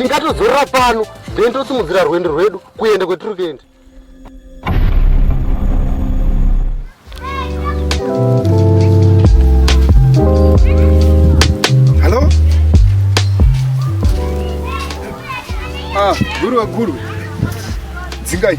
tingatozorora pano then tosimudzira rwendo rwedu kuenda kwetiri kuenda hallo ah guru waguru dzingai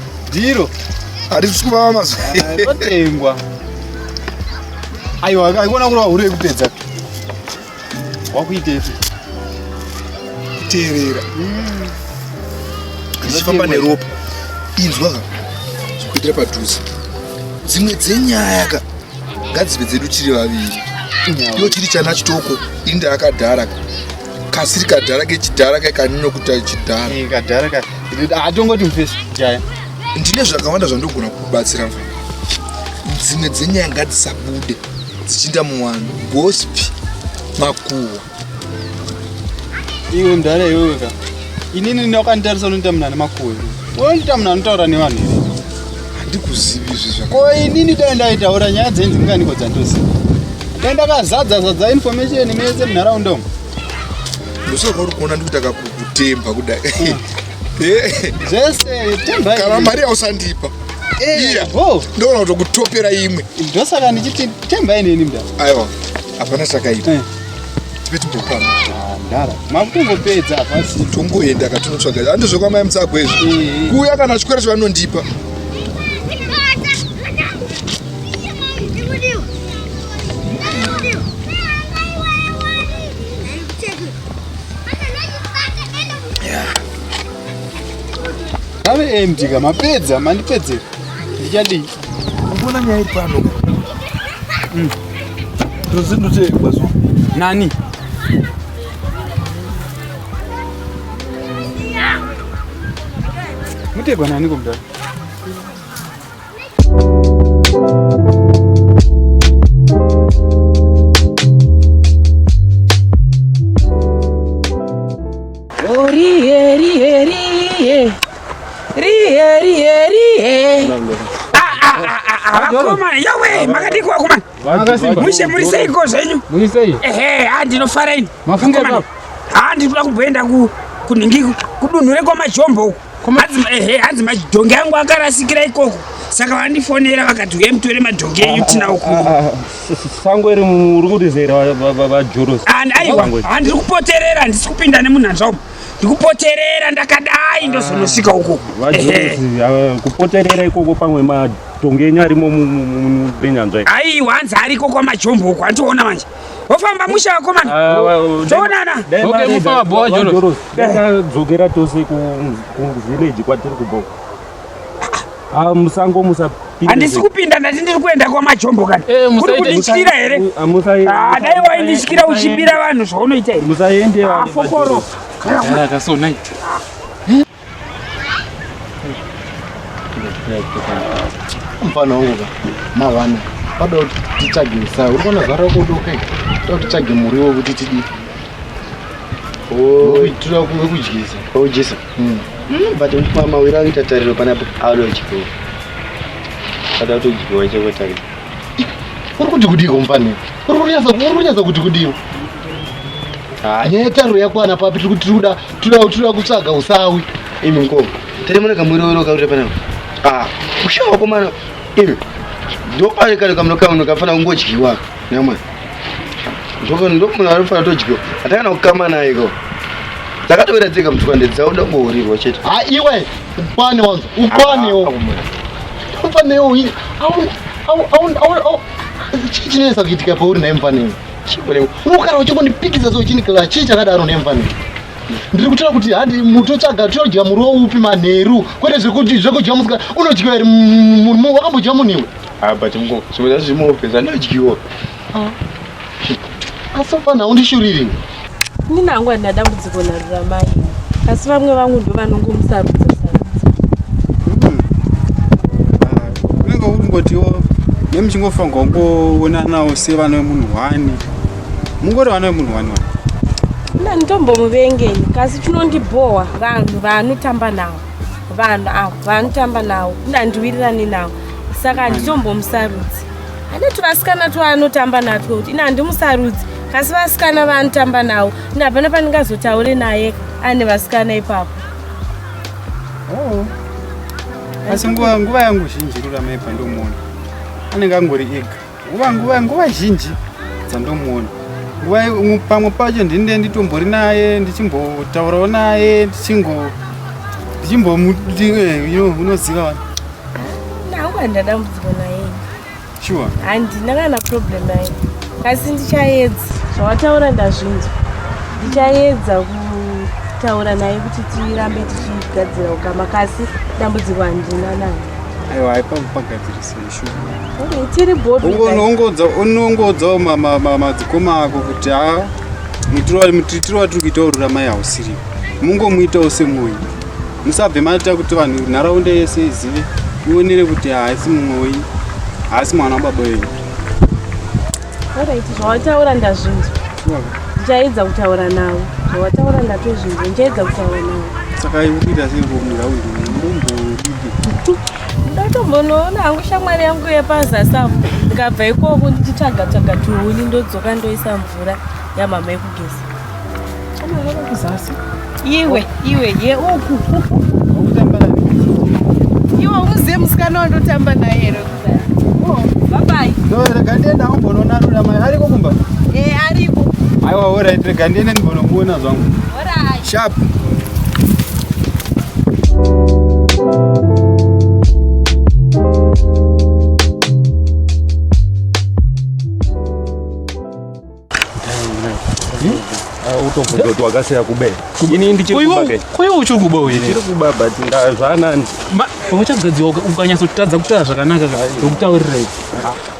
Ndiro. Harisi kuvava mazuva. Rotengwa. Aiwa, aikona kurova hure yekupedza. Wakuitei? Kuteerera. Mm. Zvichifamba neropa. Inzwa ka. Zvikuitira padhuze. Dzimwe dzenyaya ka. Ngadzive dzedu tiri vaviri. Iyo chiri chana chitoko, inda akadhara ka. kasiri kadhara kechidhara kai kaninokuta chidhara eh, kadhara ka hatongoti mfesi jaya ndine zvakawanda zvandogona kukubatsira mfana dzimwe dzenyaya ngadzisabude dzichiinda muwanhu gospi makuwa iwe mdhara iwewe ka inini ndinokanditarisa unoita munani makuwa unoita munani unotaura nevanhu handikuzivi izvi zvaka ko inini dai ndaitaura nyaya dzenzi ndinganiko dzandoziva dai ndakazadza zadza information mese munharaunda umu ndosaka kwauri kuona ndikuita kakukutemba kudai eh. zvese temba kana mari yausandipa eh, iya ndoona kutokutopera imwe ndosaka ndichiti temba ineni mda aiwa hapana chakaita eh. Tive timbokwana. Ah, ndara. Makungopedza hapasi. Tongoenda katonotsvaga. Ande zvekwa mai mutsago izvi. Eh, eh. Kuuya kana chikwere chavanondipa. Ave empty ka mapedza mandipedzera. Ndichadii? Mbona nyaya iri pano? Mm. Tozindoteekwa so. Nani? Muteekwa nani komdala? rihe rihe rihe vakomana yawe makadiko vakomana mushe muri seiko zvenyu ehe ha ndinofara ini vakomana ha ndiri kuda kumboenda kunhingi kudunhu rekwamajombo uku ehe hanzi madhongi angu akarasikira ikoko saka vandifonera vakati uye mutore madhongi enyu tina ukusango iri uri kutizera vajorosi aiwa handiri kupoterera handisi kupinda nemunhanzvaumo ndikupoterera ndakadai ndozonosvika ah, uko ah, kupoterera ikoko pamwe matonge enyu arimo mubenyanzva ii aiwa hanzi ariko kwamajombo uko andiona manje wofamba musha wako mani toonana dzokera tose kuvhileji kwatiri kubhoka Ah, musango musapinda. Handisi kupinda ndati ndiri kuenda kwamajombo kana. Eh, Kuri kundityira here? Ah, musaende. Ah, dai waindityira uchibira vanhu zvaunoita here? Musaende. Ah, fokoro. Kana kasona ita. Mfana wangu ka. Mawana. Pada kuti titsvage musayi. Uri kuona zvara kuda ukai. Toda titsvage muriwo kuti tidii. Oh, tinoda kudyisa. Kudyisa. Hmm. Hmm, but mama wira kuita tariro panapo adodyiwa ada kutodyiwa cheko tariro uri kuti kudiko mfani uri kunyatsa kuti kudiko nyaya yetariro yakwana papi tiri kuti tikuda kutsvaga usawi imi mkoo tiri mune kamwirowero kakuita panapo ah, ushawa komana imi ndopanekanekamunokamunokafanira kungodyiwaka Nyama. Ndoko ndoko munhu anofana todyo. Atakana kukama naye ko. Takatowira tsika mutwande dzauda kuhorirwa chete. Ha iwe upane wanzo. Upane wo. Upane wo. Au au au au au. Chii chinesa kuitika pauri naye mfaneni? Unogara uchingondipikisa so uchinikila chii chakadaro nemfaneni? ndiri kutaura kuti handi mutotsvaga tinodya muriwo upi manheru kwete zvekudya musikana unodya here wakambodya munhu iwe Ah, but mko so that's the more pesa ndodyiwa. Ah. Asi pana undishuriri. Mimi nangu andina dambudziko na Ruramai. Asi vamwe vangu ndo vanongomusarudza sarudza. Hmm. Ah, unenge ukungotiwo nemuchingofa ngongoonanawo sevana vemunhu hwani. Mungori vana vemunhu hwani wani. Mna ndombomuvengeni kasi chinondibhowa vanhu vanotamba nawo vanhu avo vanotamba nawo ndandiwirirani nawo saka handitombomusarudzi ane tuvasikana twaanotamba natwo kuti ini handimusarudzi kasi vasikana vaanotamba nawo ini hapana pandingazotaure naye ane vasikana ipapo oh. asi nguva yangu zhinji ruramaipa ndomuona anenge angori ega nguva nguva nguva zhinji dzandomuona nguva pamwe pacho ndinde nditombori naye ndichimbotaurawo naye ndichingo ndichimbomuti eh, unoziva wani ndauka ndadambudziko naye sure handina kana problem naye asi ndichaedza zvawataura ndazvinzwa ndichaedza kutaura naye kuti tirambe tichigadzira ukama kasi dambudziko handina naye aiwa haipa kupagadzirisei unongoudzawo madzikoma ako kuti ha mutiro watiri kuita urura mai hausiriwo mungomuitawo semoyi musabve maita kuti vanhu nharaunda yese izive ionere kuti haasi mumoyi haasi mwana wababa wenyu zvawataura ndazvinzwa ndichaedza kutaura navo zvawataura ndatozvinzwa ndichaedza kutaura navo saka ikuita sei komunharaunda ndatombonoona hangu shamwari yangu yepazasamu ndikabva ikoko ndichitsvaga tsvaga tuhuni ndodzoka ndoisa mvura yamama yekugeza iwe iwe ye uku iwe uzive musikana wandotamba naye here oh, babai rega ndienda umbononarura mai ariko kumba e ariko aiwa orit rega ndiende ndimbonomuona zvangu orai Sharp. wakasiya kube ini ndichikubakuya uchiri kuba uyenchiri kuba but zvanani uchagadzirwa ukanyatsotatadza kutaura zvakanaka ukutaurirai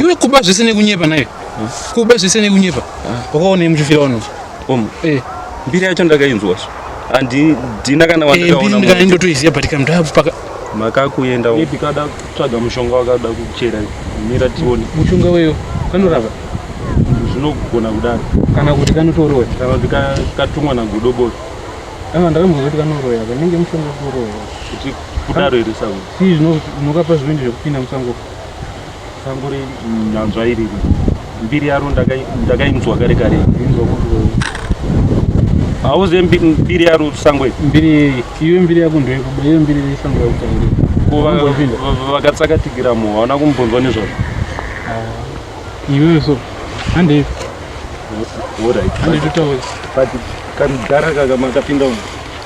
iwe kuba zvese nekunyepa naye hmm? kuba zvese nekunyepa ah. wakaonei muchifira vanhu om eh. mbiri yacho ndakainzwa so handina kana eh, wandakaonaindotoiziva but kamndapaka makakuenda kada tsvaga mushonga wakada kuchera mira tione mushonga weyo kanorapa zvinogona kudaro kana kuti kanotoroya kana kuti katumwa nagodobori ah, ndakambozoti kanoroya kanenge mushonga kuroya kuti kudaro here sauri Chii zvinokapa zvivindi zvekupinda musango sango renyanzva iri mbiri yaro ndakainzwa kare kare hauzive mbiri yaro sango iri mbiri yeyi iwe mbiri yako ndoyekuba iwe mbiri yesango yakutauri vakatsakatikira mu hauna kumbonzwa nezvazvo ah, iwewe so handei handitutauri but kamudhara kakamakapinda uno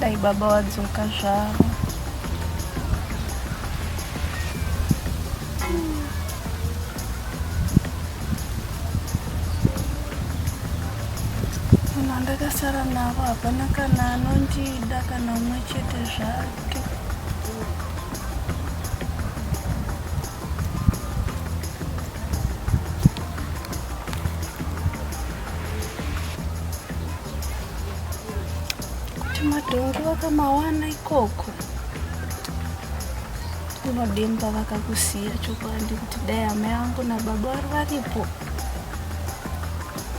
Dai baba wadzoka zvavo. ndakasara navo hapana kana anondida kana umwe chete zvake kuti madhongi vakamawana ikoko unodemba vakakusiya chokwadi Today amai vangu nababa vari varipo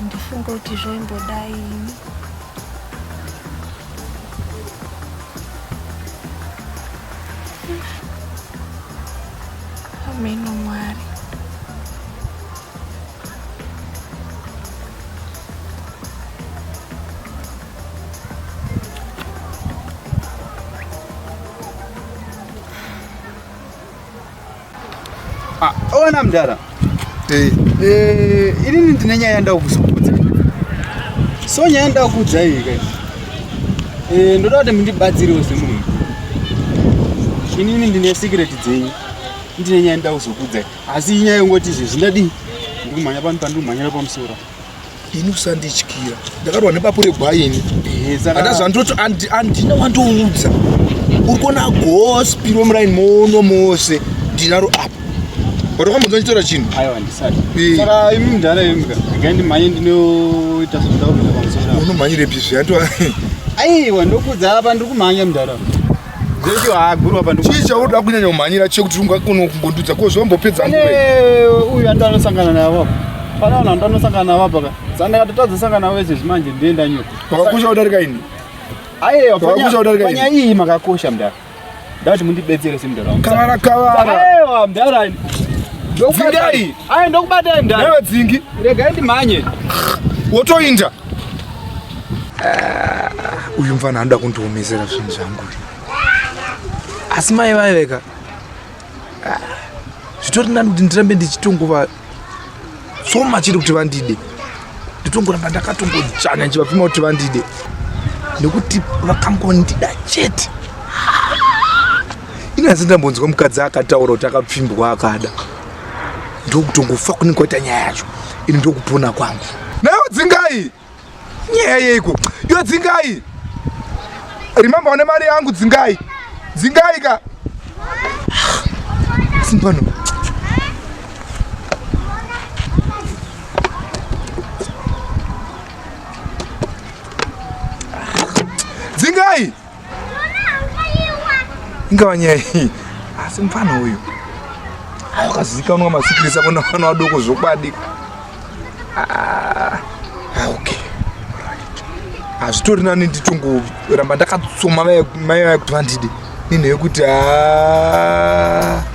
ndifunga kuti zvaimbodai ini ameno mwari Ah, ona mdara eh. eh, inini ndine nyaya yandaa kuzokudza so nyaya yandaa kudza iyi ka eh, ndoda kuti mundibatsirewo semunhu inini ndine secret dzenyu ndine nyaya yandaa kuzokudza asi inyaya yongoti izvezvi ndadii ndikumhanya pano pandikumhanyira pamusoro ini usandityira ndakarwa nepapure gwaini ana zvandoti andina wandoudza uri kuona gospiro muraini mono mose ndinaro apa watokamboza nditora chinhu unomhanyire pizvi aiwa ndokuudza apa ndiri kumhanya mudhara Zvecho haagurwa pano. Chii chauda kunyanya kumhanyira chekuti ungakona kungondudza ko zvombopedza nguva. Pane uyu ando anosangana navo. Pane vanhu ando anosangana navo apa ka. Sandaka tatadza sangana vese zvimanje ndienda nyuka. Pakakosha kudarika ini. Ayewa pakakosha kudarika ini. Panya iyi makakosha mdara. Ndati mundibetsere semdara wangu. Kavara kavara. Ayewa mdara ini. Dzingai. Ayi ndokubatai mdara. Newe dzingi. Regai ndimhanye. Wotoinda. Uh, uyu mfana anoda kundiomesera zvinhu zvangu asi mai vaiveka uh, ah, zvitori nani kuti ndirambe ndichitongova tsoma chiri kuti vandide nditongoramba ndakatongojanya ndichivapima kuti vandide nekuti vakangondida chete inyazi ndambonzwa mukadzi akataura kuti akapfimbwa akada ndokutongofa kunenge kwaita nyaya yacho ini ndokupona kwangu nayo dzingai nyaya yeiko yo dzingai remember une mari yangu dzingai dzingai ka simpano dzingai ingava nyaya iyi asi mfana uyu akazivikanwa masikirisa kona vana vadoko zvokwadi ah, ah, ok hazvitori nani ndichongoramba ndakatsoma mai vaye kuti vandide ninheyekuti a ah.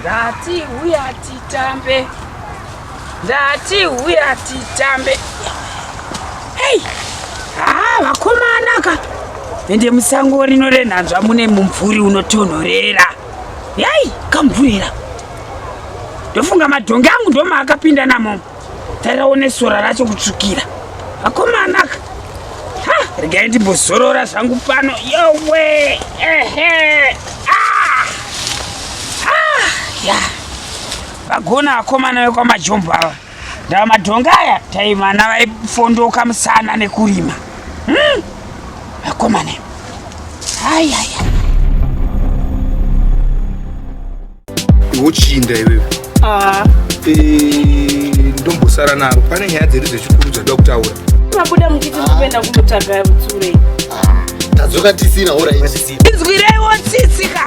Ndati huya titambe. Ndati huya titambe. Hey! Ah, vakomana ka. Ende musango rino renhanzva mune mumvuri unotonhorera. Yai, kamvurira. Ndofunga madhongi angu ndomaakapinda namomo. Tarawo nesora racho kutsvukira. Vakomana ka. Ha, regai ndimbozorora zvangu pano. Yowe. Ehe. Ah. Ah, ya. Vagona vakomana vekwamajombo ava. Ndava madhonga aya taimana vaifondoka musana nekurima. Hmm. Vakomana. Ayaya. iwochinda iwewe ah. eh, ndombosara naro pane nyaya dziri dzechikuru dzada kutaura tabuda muchiti ndikuenda kunotsvaga tsure tadzoka tisina orainzwireiwo tsitsika